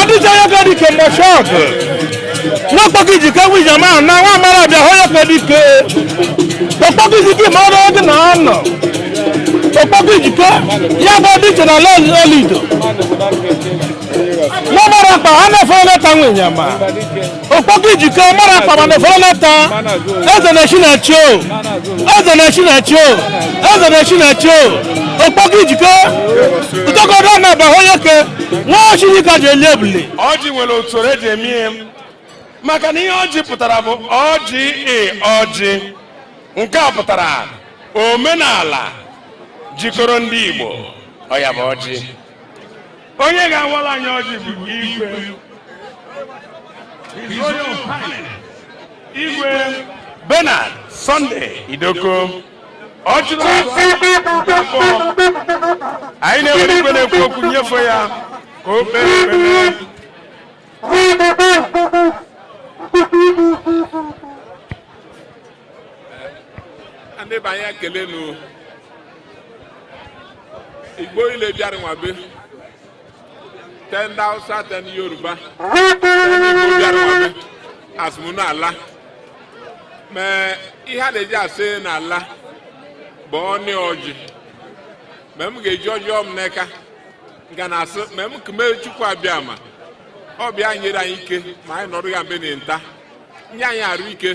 ọdịcha ya ka dike mgbe shọt n'okpoko ijike nwe ijem ahụ na nwa amara bịa hụ ya ka dike okpoko ijike ma ọrụ gị na anọ okpoko ijike ya bụ dị iche na ala olido na mara akpa a na-efere leta nwunye ma okpoko ijike mara akpa ma na-efere leta eze na-echi na-echi o eze na-echi na-echi o eze na-echi na-echi o okpoko ijike ụtọkọdọ na aba onyeke nwa shi ike ji eli ebule ọjị nwere usoro eji eme ihe maka na ihe ọjị pụtara bụ o j i ọjị nke a pụtara omenala jikọrọ ndị Igbo ọ ya bụ ọjị onye ga-awala anyị ọjị bụ igwe igwe Bernard Sunday Idoko Ọchịrịọzụọ anyị na-ewere igwe na-ekwu okwu nyefe ya ka o kpee ekpere ndị be anyị ekele nụ igbo ile bịara nwabe te ndị hausa te ndị yoruba igbo bịara nwabe asị m ụnụ ala ma ihe a na-eji asị ụnụ ala bụ ọnị ọjị ma m ga-eji ọjị m n'aka ga na-asị ma m kume chukwu abịama ọ bụ ya nyere anyị ike ma anyị nọrọ ya mbe na nta nye anyị arụ ike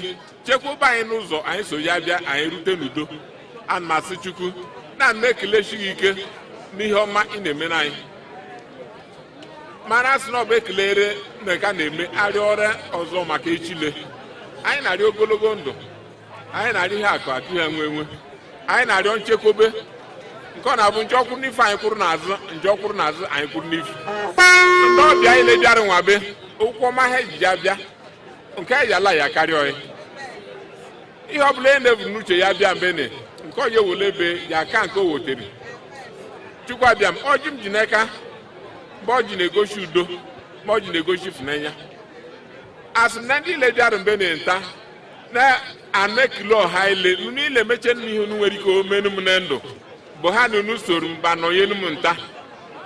chekwaba anyị n'ụzọ anyị so ya bịa anyị rute n'udo ana m asị chukwu na m na-ekeleshi gị ike n'ihe ọma ị na-emere anyị mana asị na ọ bụ ekelere na ka na-eme arịọ arịrịọ ọzọ maka echile anyị na-arịọ ogologo ndụ anyị na-arịọ ihe akụ akụ ihe enwe enwe anyị na-arịọ nchekwube nke ọ na-abụ njọ kwụrụ n'ifu anyị kwụrụ n'azụ njọ kwụrụ n'azụ anyị kwụrụ n'ifu ndị ọbịa anyị ile bịara nwabe ụkwụ ọma ha ejiji abịa nke eji ala ya karịa ọyị ihe ọ bụla onye na-ebu n'uche ya bịa mbe ne nke ọ ja-ewole ebe ya aka nke o wotere chukwu abịama ọjị m ji n'aka ebe ọjị na-egosi udo ebe ọjị na-egosi ịfụnanya asị m na ndị ile bịara mbe na nta na a na-ekele ọha ile unu ile emeche nna ihe unu nwere ike omenu m na ndụ bụ ha na unu soro m bịa nọnyelu m nta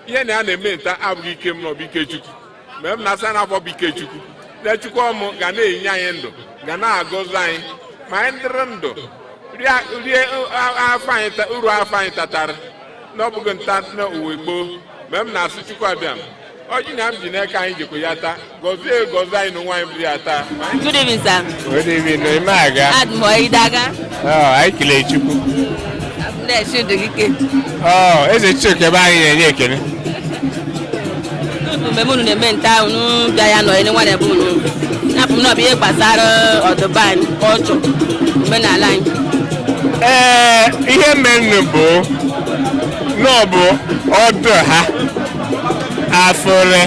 ihe na ya na-eme nta abụghị ike m n'ọbụ ike chukwu ma m na-asa na afọ bụ ike chukwu na chukwu ọmụ ga na-enye anyị ndụ ga na-agọzi anyị ma anyị dịrị ndụ rie uru afụfụ anyị tatara n'ọbụghị nta na uwe gboo ma m na-asị chukwu abịa ọjị na m ji n'aka anyị jikwa ya taa gọzie gọzie anyị n'ụwa anyị bụrụ ya taa Good evening, sir. Good evening, i mee aga Adị m ọyị. Ị dị aga. Ọ, anyị kelee Chukwu Na-esi ndụ gị ike. Ọ, eze Chukwu ebe anyị na-enye ekele Tupu mgbe unu na-eme nta ahụ unu bịa ya nọ ele nwa na-ebe unu. Napụ m na ọ bụ ihe gbasara ọdịbe anyị, culture, omenala anyị. ee ihe menụ bụ na ọ bụ ọ dụ ha afọ iri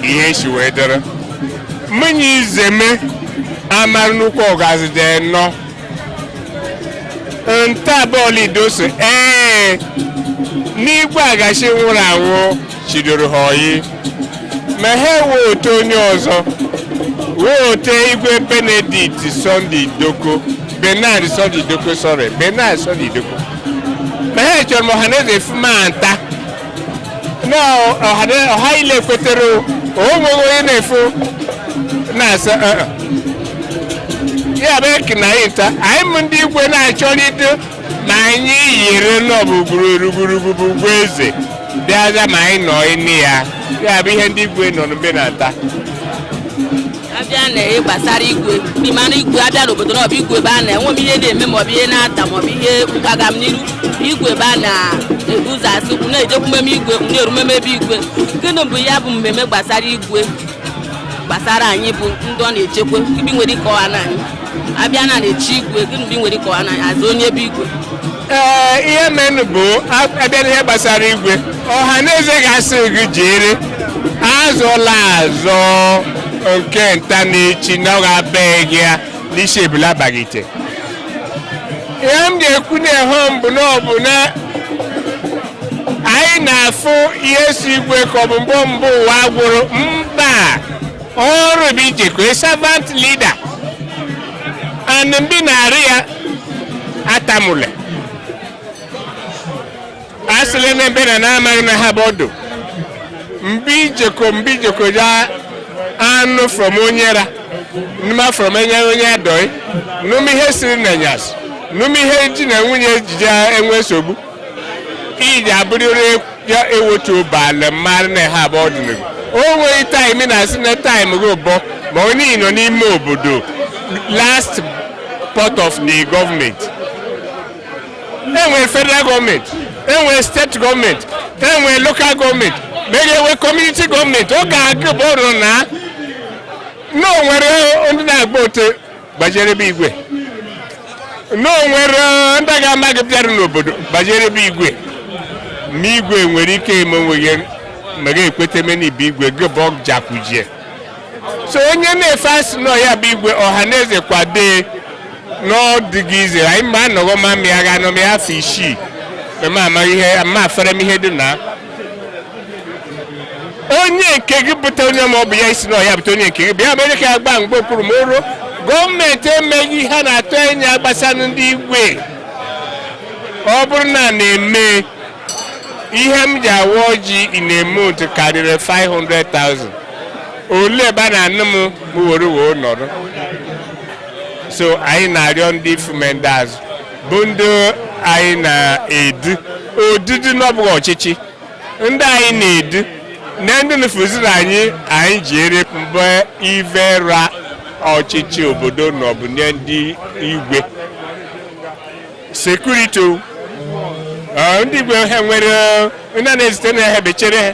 ihe si wee dịrị mmanya izeme amara nnukwu ọgazi dị nnọọ nta bụ olido so ee n'igwe agachi nwụrụ anwụ chidoro ha oyi ma ha wee họte onye ọzọ wee họte igwe benedict sunday idoko bernard sunday idoko sorry bernard sunday idoko ma ha chọrọ ma ọhaneze fuma nta ọha ile kwetere onweghị onye na-efu na-asa ya bụ eki na anyị nta anyị m ndị igwe na-achọlite ma anyị yiri nọbụ gburugburu igboeze bịaza ma anyị nọ ime ya ya bụ ihe ndị igwe nọ mbe na-ata abịa na ihe gbasara igwe ndị mara igwe abịa n'obodo n'ọbụ igwe ebe a na-enwe m ihe na-eme maọbụ ihe na-ata maọbụ ihe agamniru igwe ebe a na-ebu ụzọ asị kwụ na-ejekwu mmemme igwe na-eru mmemme ebe igwe gịnị bụ ya bụ mmemme gbasara igwe gbasara anyị bụ ndị ọ na-echekwa be i nwere ike ịkọwanụ anyị abịa na na-echi igwe gịnị be i nwere ike ịkọwanụ anyị azọ onye ebe igwe ee ihe menụ bụ abịa n'ihe gbasara igwe ọha na eze ga-asị gị jere azọla azọ nke nta na echi na ọ ga-abaghị gị ya n'isi ebula abaghị ite ihe m ga-ekwu na-ehe m bụ na ọ bụ na anyị na-afụ ihe si igwe ka ọ bụ mbụ mbụ ụwa gwụrụ mba ọrụ bụ ijeko servant leader and ndị na-arị ya atamụle asịla na ebe na na-amaghị na ha bụ ọdụ mgbe ijeko mgbe ijeko ya anụ from onye ara nụma from enye onye adọị nụm ihe siri na nyas nụm ihe ji na nwunye ejije enwe nsogbu ị ga-abụrịrị ya ewetu obi ala mara na ha abụọ dịrị o nweghị time na-asị na time gị ụbọ ma onye nọ n'ime obodo last part of the government enwere federal government enwere state government enwere local government ma e ga-enwe community government ọ ga-abụrụ na na o nwere ndị na-agbagote gbajere be igwe na o nwere ndị ga-ama gị bịara n'obodo gbajere be igwe ma igwe nwere ike eme onwe gị ma gị ekweta eme n'ibe igwe gị bụ ọjakujie so onye na-efe asị na ọ ya bụ igwe ọha na eze kwado n'ọdịghị ize anyị mgbe anọghọ ma mịa ga anọ mịa afọ isii ma amaghị ihe ma afere m ihe dị na onye nke gị bụta onye ma ọ bụ ya isi na ọya bụta onye nke gị bụ ya mere ka agba mgba okpuru ma o ruo government emeghị ihe a na-atụ anya gbasara ndị igwe ọ bụrụ na na-eme ihe m ji awa ọjị in a month karịrị 500,000 ole ebe a na-anụ m were wee nọrọ so anyị na-arịọ ndị ifu ma ndị azụ bụ ndị anyị na-edu odudu na ọ bụghị ọchịchị ndị anyị na-edu na ndị nufuziri anyị anyị ji ere mgbe ive ra ọchịchị obodo na ọ bụ inye ndị igwe security ndị igwe ha nwere ndị na-ezite na ha bechere ha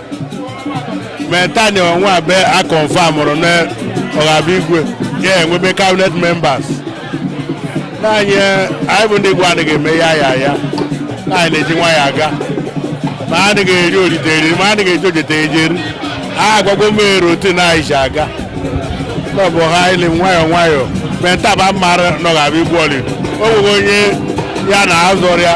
maintain onwe abe a confirmụrụ na ọ ga-abụ igwe ya enwebe cabinet members na anyị bụ ndị igwe adịghị eme ya ya ya anyị na-eji nwayọọ aga ma a dịghị eri orite eri ma a dịghị eji ojete ejeri a agwagwo m eri otu na anyị ji aga ọ bụ ha ili nwayọọ nwayọọ maintainba mara na ọ ga-abụ igwe olido o nweghị onye ya na-azọrị ya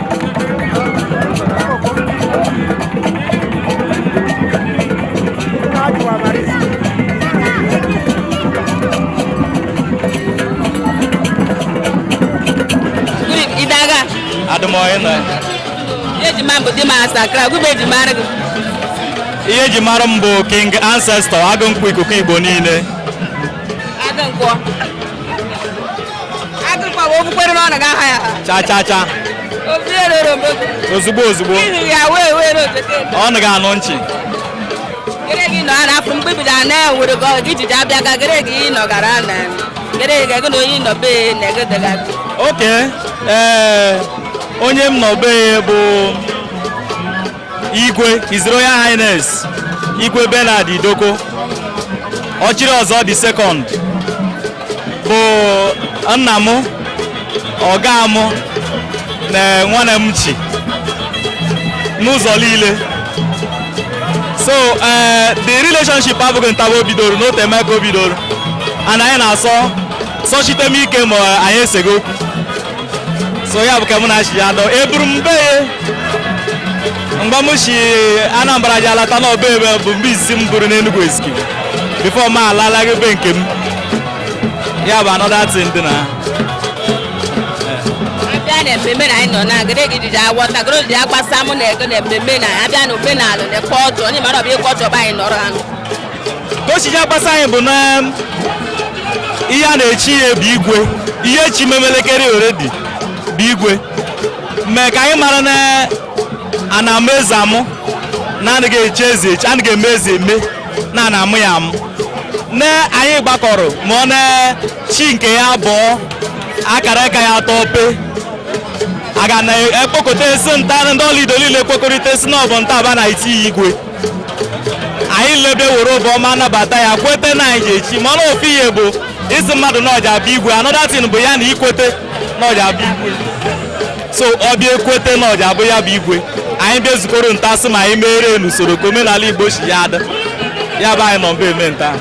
ihe eji mara m bụ king ancestor agụ nkwụ ikuku igbo niile cha cha cha ozugbo ozugbo ọnụ ga-anụ nchi gị nọ na afọ mgbe bido ana nwere gị ọgụ ijiji abịa ga gịrị gị ịnọ gara na gịrị gị gị na onye ịnọ be na ego dịga oke ee onye m nọ be bụ Igwe His Royal Highness Igwe Bernard Idoko Ọchịrịọzọ the second bụ nna m ọga m na nwanne m chi n'ụzọ niile so eh, the relationship abụghị ntaba o bidoro na o teemeka o bidoro and anyị na-associate m ike ma anyị eseghị okwu so ya bụ ka mụ na chi ya dọ eburu m be ya mgbe m si Anambra ji alata na ọ bụ ebe bụ ebe izizi m buru n'Enugwu Ezike before m alalaghị be nke m ya bụ another thing dị na abịa na mmemme na anyị nọ na agịrị gị dịdị agwọta gịrị dị agbasa mụ na ego na mmemme na abịa na omenala na culture onye mara ọ bụ ya culture bụ anyị nọrọ anụ ka o si ji agbasa anyị bụ na ihe a na-echi ya bụ igwe ihe echi memelekere already bụ igwe mee ka anyị mara na a na-amụ eze amụ na anaghị echi eze echi anaghị eme eze eme na a na-amụ ya amụ na anyị gbakọrọ ma ọ na chi nke ya abụọ akara aka ya atọ pe aga na ekpokọta esi nta ndị Olido niile ekpokọrịta esi na ọ bụ ntaba a na-echi igwe anyị lebe were obi ọma nabata ya kweta na anyị ga-echi mana ofu ihe bụ ịsị mmadụ na ọ ja-abụ igwe another thing bụ ya na ikwete na ọ ja-abụ igwe so ọ bịa ekwete na ọ ja-abụ ya bụ igwe anyị bịa zukọrọ nta sị ma anyị meere n'usoro ka omenala Igbo si ya adị ya bụ anyị nọ mba eme nta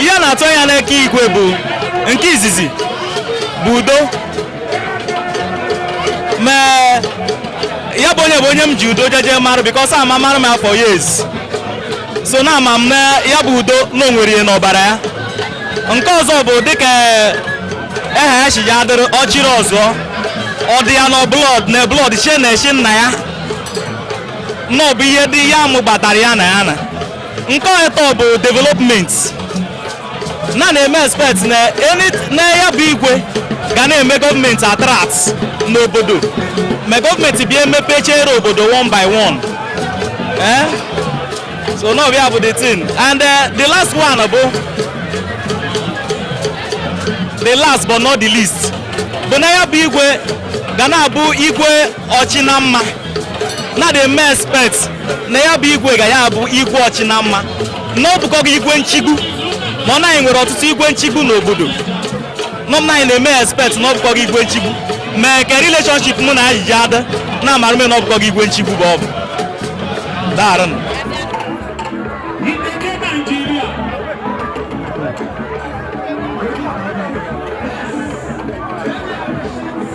ihe a na-atụ anya n'eka igwe bụ nke izizi bụ udo ma ya bụ onye bụ onye m ji udo jeje marụ because amamarụ m a for years so na ama m na ya bụ udo na o nwere ihe n'ọbara ya nke ọzọ bụ dịka eha ya si ya adịrị Ọchịrịọzọ ọ dị ya na blood na blood shi n'eshi nna ya na ọ bụ ihe dị ya mụbatara ya na ya na nke atọ bụ development na na-eme expect na ya bụ igwe ga na-eme gọọmenti attract n'obodo ma gọọmenti bịa emepechere obodo one by one eh? so na ọ bụ ya bụ the thing and eh, the last one bụ the last but not the least bụ na ya bụ igwe ga na-abụ igwe ọchị na mma na dị eme expect na ya bụ igwe ga ya bụ igwe ọchị na mma na ọ bụkọ gị igwe nchigbu mana anyị nwere ọtụtụ igwe nchigbu n'obodo mana anyị na-eme expect na ọ bụkọ gị igwe nchigbu mee ka relationship mụ na ya ji adị na amara m na ọ bụkọ gị igwe nchigbu bụ ọ bụ daarụ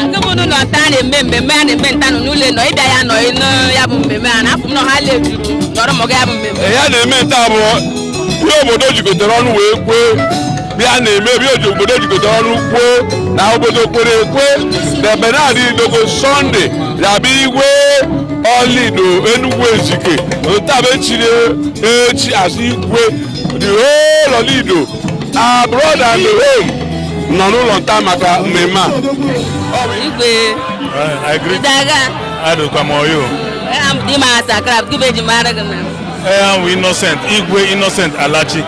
agụmụnụ na ọta na-eme mmemme a na-eme nta n'ụlọ nọ ịbịa ya nọ ya bụ mmemme a na-afụ m na ha lejuju nọrọ maka ya bụ mmemme ya na-eme nta bụ ihe obodo jikọtara ọnụ wee kwee bịa na-eme ebe obodo jikọtara ọnụ kwuo na obodo kwere ekwe na Bernard Idoko Sunday ya-abụ igwe Olido Enugwu Ezike nta bụ echiri echi as igwe the whole Olido abroad and home nọ n'ụlọ nta maka mmemme a igwe I greet daga Adukamoyo. era m dị ma asakra gube ji mara gị na I am Innocent. Igwe Innocent Alachi.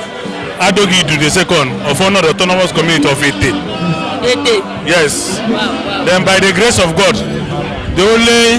Adogi Idu the second of Onoda autonomous community of Ette. Ette Yes. Then by the grace of God, the only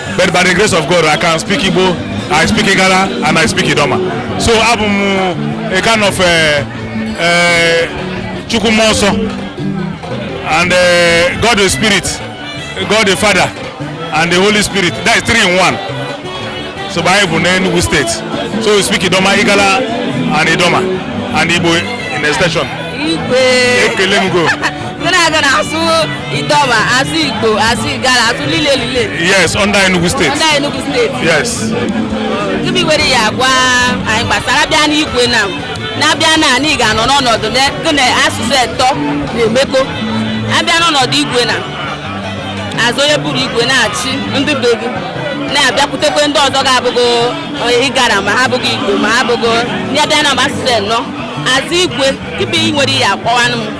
But by the grace of God, I can speak Igbo, I speak Igala, and I speak Idoma. So abụ m a kind of eh, eh, Chukwu mmụọ nsọ and eh, God the Spirit, God the Father, and the Holy Spirit. That is three in one. So by Igbo n'Enugu State. So we speak Idoma, Igala, and Idoma, and Igbo in extension. Igwe. Ekele m go. ndị na-aga na-asụ Idoma asụ igbo asụ igala asụ lile lile yes under Enugu state under Enugu state yes gịnị i nwere ị ya-agwa anyị gbasara bịa n'igwe na na-abịa na anyị ga-anọ n'ọnọdụ na gị na asụsụ etọ na-emekọ abịa n'ọnọdụ igwe na as onye bụ igwe na-achị ndị be gị na-abịakwutekwe ndị ọzọ ga-abụgo onye Igala ma ha abụghị igbo ma ha abụgo ndị abịa na mba asụsụ enọ as igwe gịnị nwere ya akọwanụ m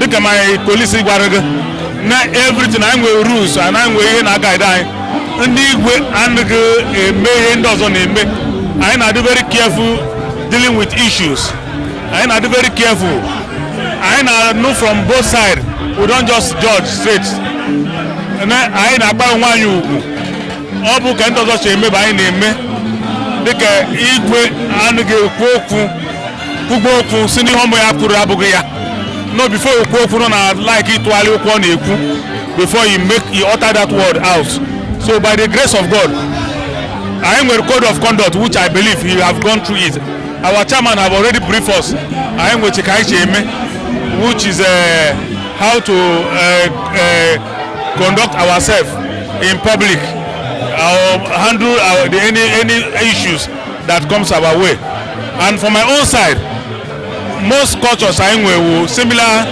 dịka my colleagues gwara gị na everything anyị nwere rules anyị nwere ihe na-guide anyị ndị igwe anaghị eme ihe ndị ọzọ na-eme anyị na-adị very careful dealing with issues anyị na-adị very careful anyị na-anụ from both sides we don't just judge straight na anyị na-akwanye onwe anyị ugwu ọ bụghị ka ndị ọzọ si eme bụ anyị na-eme dịka igwe anaghị ekwu okwu kwugbo okwu sị n'ihe ọ bụ ya kwuru abụghị ya no before you kwuo okwu nọ na like ịtụgharị okwu ọ na-ekwu before you make you utter that word out so by the grace of God anyị nwere code of conduct which I believe you have gone through it our chairman have already briefed us anyị nwechi ka anyị si eme which is uh, how to uh, uh, conduct ourselves in public or handle our, the, any any issues that comes our way and from my own side most cultures anyị nwe wụ similar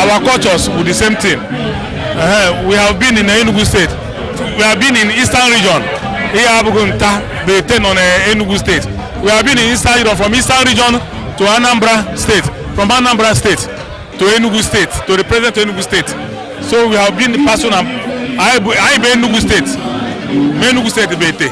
our cultures wụ the same thing uh, we have been in Enugu state we have been in eastern region ihe abụghị nta bụ Ette nọ na Enugu state we have been in eastern region from eastern region to Anambra state from Anambra state to Enugu state to the present Enugu state so we have been person anyị bụ Enugu state ma Enugu state bụ Ette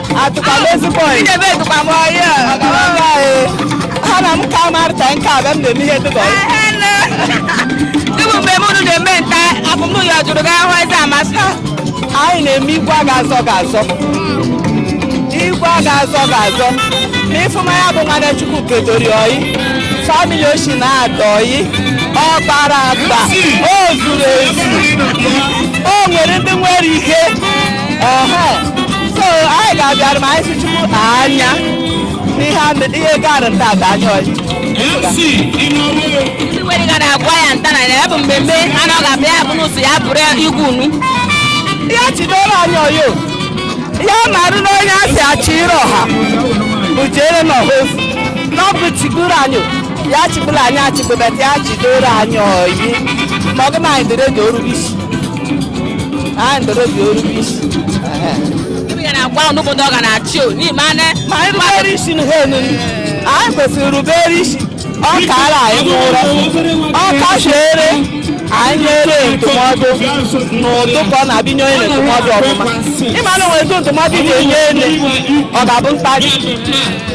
Atụkwa m ezi bọị. Ị na-ebe atụkwa m ọyị. Ha na m ka marịta nke a bịa m na-eme ihe dịka ọyị. Ịbụ mgbe m unu na-eme nta abụmnụlọ jụrụ gị ahụ eze amasị. Anyị na-eme igwe a ga-azọ ga-azọ. Igwe a ga-azọ ga-azọ. Ma ị fụma ya bụ nwada Chukwu kedori ọyị. Family o shi na-adọ ọyị. Ọ gbara agba. O zuru ezu. O nwere ndị nwere ike. so anyị ga-abịara ma anyị sị Chukwu anya n'ihe gara nta adọ anyị ọyị ndị nwere ga na-agwa ya nta na ya bụ mmemme a na ọ ga-abịa ya bụ n'ụsọ ya bụrụ igwe unu ya chidoro anyị ọyị ya marụ na onye a sị Ọchịrịọha bụ jere na ọha ofu na ọ bụ chigoro anyị ya chịgbula anyị achịgbu but ya chidoro anyị ọyị ma ọ gị na anyị dịrị ga erube isi anyị dịrị ga erube isi ibe ya nakwanụ obodo ọ ga na-achị o n'ime anya ma anyị rubere isi n'ihe nile anyị kwesịrị rubere isi ọ kaara anyị nụrụ ọ kashiere anyị nyere ndụmọdụ n'ụdị ka ọ na-abụ inye onye ndụmọdụ ọfụma ịma na o nwere ndụmọdụ ị ga-enye onye ọ ga-abụ mkparị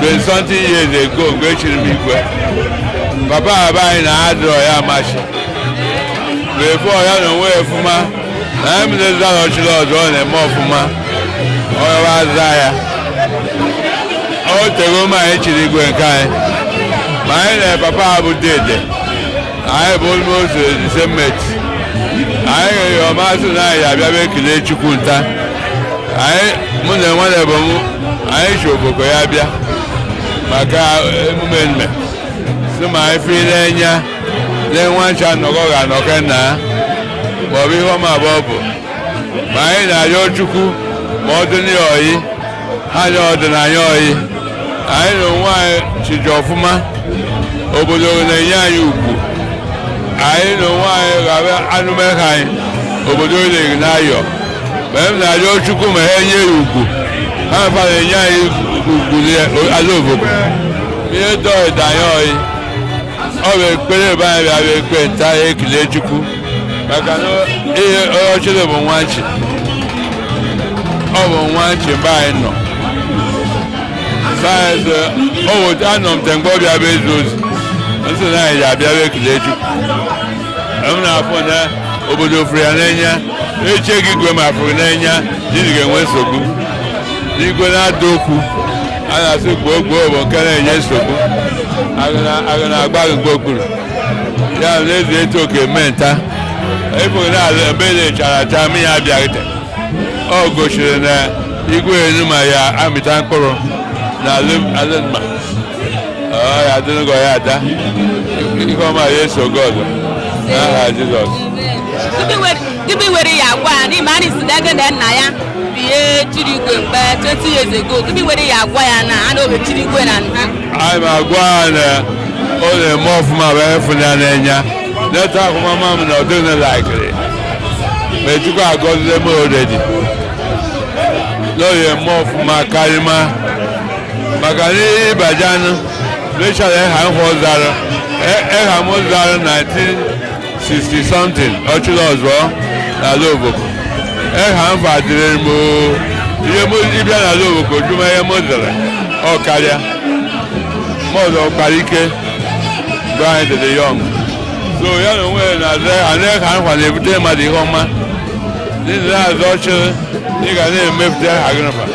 Twenty something years ago mgbe e chiri m igwe papa be anyị na adịrọ ya amachi before ya na onwe ya ọfụma na ya mere zụta na Ọchịrịọzọ na-eme ọfụma ọ yawa aza ya o tego ma anyị chiri igwe nke anyị ma anyị na papa ya bụ dede anyị bụ almost the same mate anyị ga-eyi ọmasị na anyị abịa bụ ekele Chukwu nta anyị mụ na nwanne bụ m anyị shi Ovoko ya bịa maka emume nme si ma anyị fi n'enya nye nwa nchi nọkọ ga anọkọ nna ya ma ọ bụ ihe ọma abụọ bụ ma anyị na-ayọ Chukwu ma ọ dị ya ọyị ha nye ọ dị na anyị ọyị anyị na onwe anyị chiji ọfụma obodo na-enye anyị ugwu anyị na onwe anyị ghara anụmeha anyị obodo na-eri n'ayọ mgbe m na-arịọ Chukwu ma ha nye ya ugwu ha fa na-enye anyị ugwu ala Ovoko ma ihe dọị da anyị ọyị ọ bụ ekpere ebe anyị bịa bụ ekpe nta ya ekele Chukwu maka na onye chiri bụ nwa nchi ọ bụ nwa nchi mgbe anyị nọ sayensị o weta anọ m te mgbe ọ bịa bụ ezi ozi m sị na anyị ji abịa bụ ekele Chukwu m na-afụ na obodo fụrụ ya n'enya echeghị igwe ma fụrụ n'enya jiri ga-enwe nsogbu igwe na-ada okwu a na-asị gboo gboo bụ nke na-enye nsogbu a ga na-agba gburugburu ya na ezi etu oke mee nta efughị na ala ebe na-echara acha mmiri abịaghịte ọ gosiri na igwe enu ma ya amịta mkpụrụ na alụmma ya adịnụgọ ya ada ihe ọma ya eso gị ọzọ n'aha jizọs gịnị were ya gwa ya n'ime anyị si dege na nna ya bie chiri igwe mgbe 20 years ago gịnị were ya gwa ya na a na-oge chiri igwe na nna anyị ma agwa ya na ọ na-eme ọfụma be a fụ ya n'enya leta akwụmama m na ọdịna laikiri ma ejikwa agọzile m already na ọ ya-eme ọfụma karịma maka na ịbajan mechara eha nhọ zara eha m zara 1960 something ọchịrị ọzọ n'ala Ovoko eha m fa dịrị m ihe m ị bịa n'ala Ovoko jụma ihe m zara ọ karịa m ọzọ kpara ike mgbe anyị dịrị young so ya na onwe ya na-aza ana eha nfa na-ebute mmadụ ihe ọma n'ihi na-aza ọchịrị ị ga na-emepụta eha gị nfa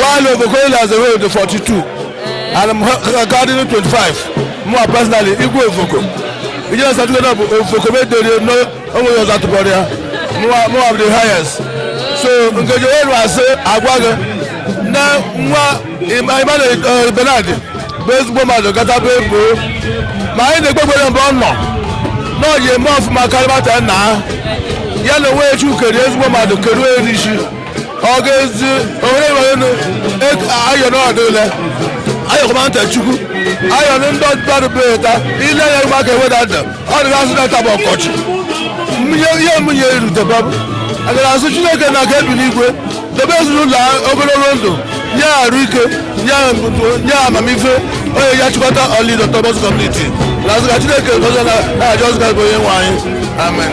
While Ovoko na-aza ọ dụ 42 and akarịnụ 25, mụnwa personally, Igwe Ovoko. You know, something that Ovoko made the no, only was at the body, mụnwa the highest. So, Nkeji Oyeru ase agwa gị na nwa Emmanuel uh, Bernard bụ ezigbo mmadụ gata bụ ebo ma anyị na-ekpegbere mgbe ọ nọ na ọ ga-eme ọfụma karịmata nna ya na onwe ya chi kere ezigbo mmadụ keruo ya n'ishi ọgezi onye nwere ayọ n'ọdụ ule ayọkọma ntị chukwu ayọ ndị mmadụ bụ eta ile ya ịgba ka eweda ndụ ọ dịghị asụ na-eta bụ ọkọchị ihe mụnye eruteba bụ a ga na-asụ chineke nna nke bi n'igwe dobe ezinụlọ ogologo ndụ nye arụ ike nye amamife onye ya chịkọta Olido autonomous community na-asị ka chineke dozie n'aha jizọs kraịst bụ onye nwe anyị amen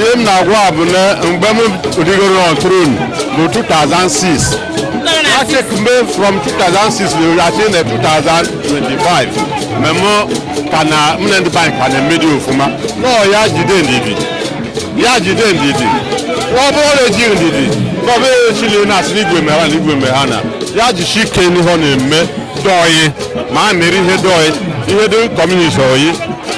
ihe m na-agwa bụ na mgbe m rigoro na throne bụ 2006 a check m from 2006 rurati na 2025 mgbe m ka na m na ndị be anyị ka na-emedi ofụma nọọ ya jide ndidi ya jide ndidi ọ bụrụ na ejighị ndidi ụbọchị ile a na-asị na igwe mere ha na igwe mere ha na ya jishi ike n'ihe ọ na-eme dụ ọyị ma a mere ihe dụ ọyị ihe dụ community ọyị